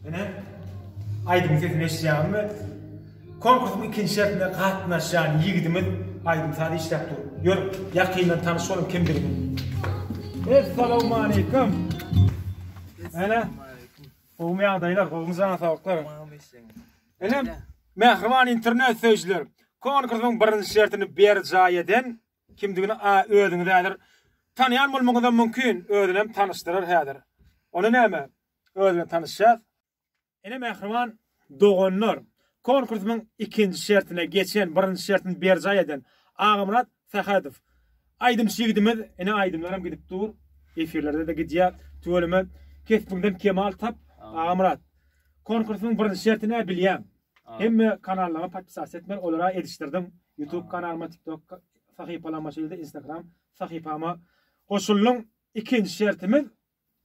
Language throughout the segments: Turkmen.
Ine, aýdym sesini eşitýäňizmi? Konkursyň ikinji şertine gatnaşýan ýigidimiz aýdym saz işläp dur. Ýör, ýakyndan tanyş boluň kimdigini. Essalamu aleýkum. Ene, gowmy ýagdaýlar, gowmy jana saglyklar? Ene, mähriban internet söýüjiler, konkursyň birinji şertini berjaý eden kimdigini a özüňiz häzir tanýan bolmagyňyz hem mümkin, özüni hem tanyşdyrar häzir. Onda näme? Öz bilen tanyşýas. Ine mähriban doganlar, konkursymyň ikinji şertine geçen, birinji şertini berjaý eden Agamyrat Sähedow. Aýdymçy ýigidimiz, ine aýdymlaram gidip dur, efirlerde-de gidýär. Tüweleme kesbiňden kemal tap, Agamyrat. Konkursymyň birinji şerti nä bilýäň? Hemme kanallaryma podpisasiýa etmeli, olara edişdirdim. Youtube kanalyma, TikTok sahypalaryma, şeýle-de Instagram sahypama goşuldyň. Ikinji şertimiz,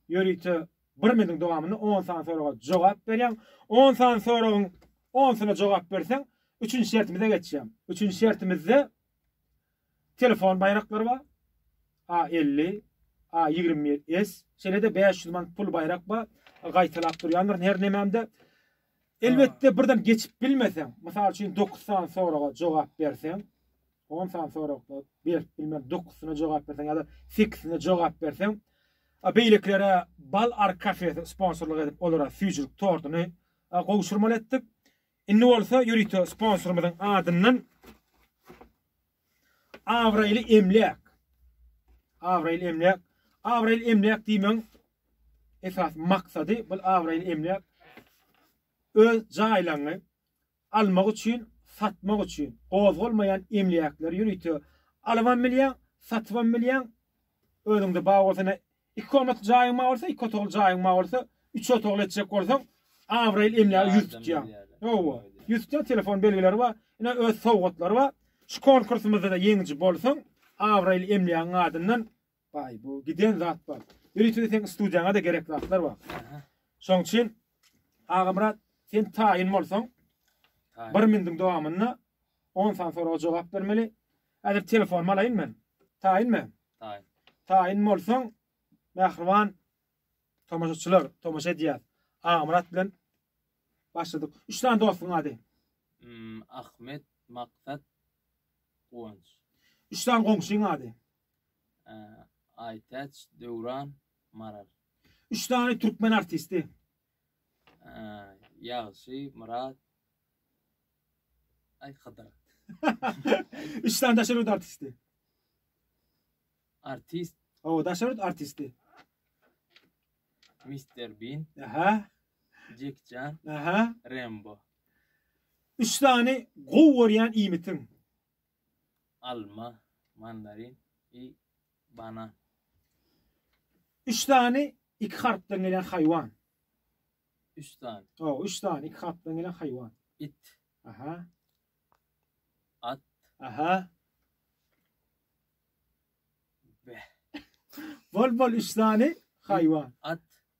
Ýörite bir minutiň dowamynda on sany soraga jogap berýäň. On sany soragyň onsyna jogap berseň, üçünji şertimize geçýäň. Üçünji şertimizde telefon baýraklary bar. A50, A27S, şeýle-de 500 manat pul baýrak bar. Gaýtalap durýandyr her nememde. Elbetde birden geçip bilmeseň, mysal üçin 9 sany soraga jogap berseň, On sany soragda berip bilmän dokusyna jogap berseň ýa-da sekisine jogap berseň, beýlekilere Bal Ark kafesi sponsorlyk edip, olara süýjülik tortuny gowşurmaly etdik. Indi bolsa ýörite sponsorymyzyň adyndan Abraýly emläk. Abraýly emläk. Abraýly emläk diýmegiň esas maksady bu abraýly emläk öz jaýlaňy Almak üçin, satmak üçin gozgalmaýan emläkleri ýörite alybam bilýäň, satybam bilýäň. Özüňde bar bolsa ine, iki komnatly jaýyň bar bolsa, iki otagly jaýyň bar bolsa, üç otagly etjek bolsaň, abraýly emläge ýüz tutýaň. Hawa, ýüz tutýaň, telefon belgileri bar, ine, öz sowgatlary bar. Şu konkursymyzda-da ýeňiji bolsaň, abraýly emlägiň adyndan Baý, bu giden zat bar. Ýörite seň studiýaňa-da gerek zatlar bar. Şoň üçin Agamyrat, sen taýyn bolsaň, bir mindiň dowamynda 10 san soraga jogap bermeli. Häzir telefonymy alaýyn men. Taýynmy? Taýyn. Taýyn bolsaň, mähriban tomaşaçylar, tomaşa edýär. Agamyrat bilen başladyk. Üç sany dostuň ady. Hmm, Ahmet, Maksat, Guwanç. Üç sany goňşyň ady. Aýtäç, Döwran, Maral. Üç sany türkmen artisti. Ýagşy, Myrat, aý Hydyr. Üç sany daşary ýurt artisti. Artist. Hawa, daşary ýurt artisti. Mister Bin. Aha. Jekjan. Aha. Rembo. Üç sany gowy görýän iýmitiň. alma, mandarin i banan. Üç sany iki harpdan gelen haýwan. Üç sany. O, üç sany iki harpdan gelen haýwan. It. Aha. At. Aha. Beh. Bol bol üç sany haýwan. At.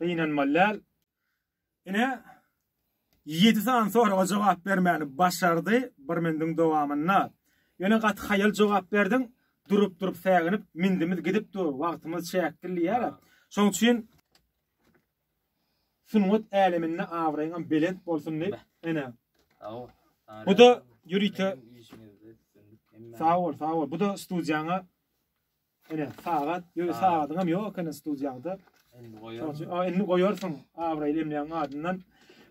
Gynanmaly däl. Ine, ýedi sany soraga jogap bermäni başardy bir mündüň dowamynda. Ýöne gaty haýal jogap berdiň, durup-durup säginip, mündümiz gidip dur, wagtymyz çäkli diýýär-ä. Şoň üçin sungat äleminde abraýyňam belent bolsun diýip, ene. Sag bol. Bu-da ýörite. Sag bol, sag bol. Bu-da studiýaňa Ene sagat, ýöne sagadyňam ýok ekeni studiýaňda. Indi goýarsyň. Aa, indi goýarsyň abraýly emläň adyndan.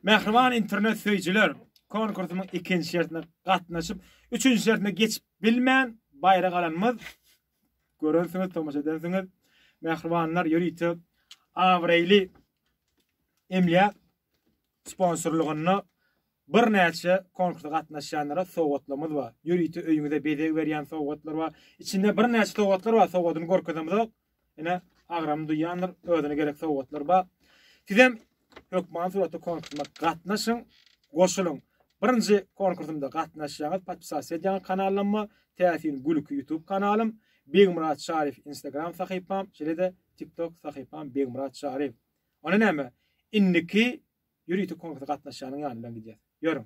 Mähriban internet söýüjiler, konkursyň ikinji şertine gatnaşyp, üçünji şertine geçip bilmän baýrak alanymyz görensiňiz, tomaşa edensiňiz. Mähribanlar ýörite abraýly emlä sponsorlygynda Birnäçe konkursa gatnaşýanlara sowgatlarymyz bar. Ýörite öýüňize bezeg berýän sowgatlar bar. Içinde birnäçe sowgatlar bar, sowgadyny görkezemizok. Ine, agram duýýandyr, özüne gerek sowgatlar bar. Sizem hökmany suratda konkursyma gatnaşyň, goşulyň. Birinji konkursymda gatnaşýaňyz, podpisasiýa edýäňiz kanalyma, Täsin gülki YouTube kanalym, Begmyrat Şaryýew Instagram sahypam, şeýle-de TikTok sahypam Begmyrat Şaryýew. Onda näme? Indiki ýörite konkursa gatnaşýanyň ýanyndan gidýäs. Ýörüň.